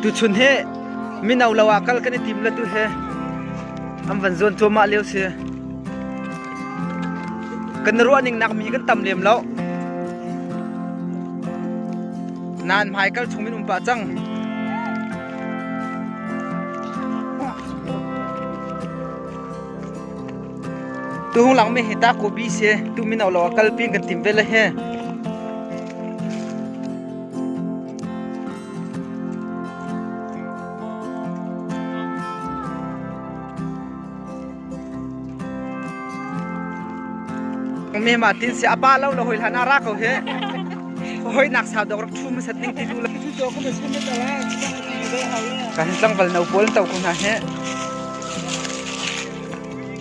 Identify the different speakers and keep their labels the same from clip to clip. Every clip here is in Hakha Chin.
Speaker 1: Tuchun hi mino lo ah kal kan i tim le tu hi an van zuan cuahmah lio si. Kan i ruahning nakmi kan tam lem lo. Nain hmaikal chung min um pah cang. Tu hung lang mi hi ta ko bi se tu mino lo ah kal pin kan tim ve le he. me ma tin si aba lo lo hoi hlan ara ko he hoi nak sa dok rak thu ma sat ning ti lu la kan tlangval no pol to ko na he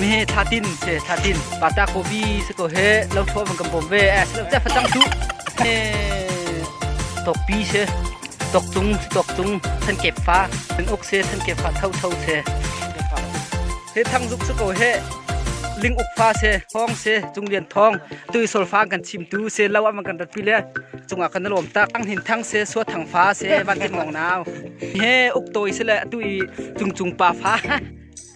Speaker 1: Mehe thlatin se thlatin pata kopi se ko he lo tho van kan bom ve eh se lo te facang tu he tokpi se tok tung tok tung than kep fa than uk se than kep fa tho tho se he thang zuk se ko he ling uk fa se thong se chung lian thong tu sol fa kan chim tu se lo am kan rat pi le chunga kan lom tak thang hin thang se so thang fa se van ti mong naw he uk toy se le tu i chung chung pa fa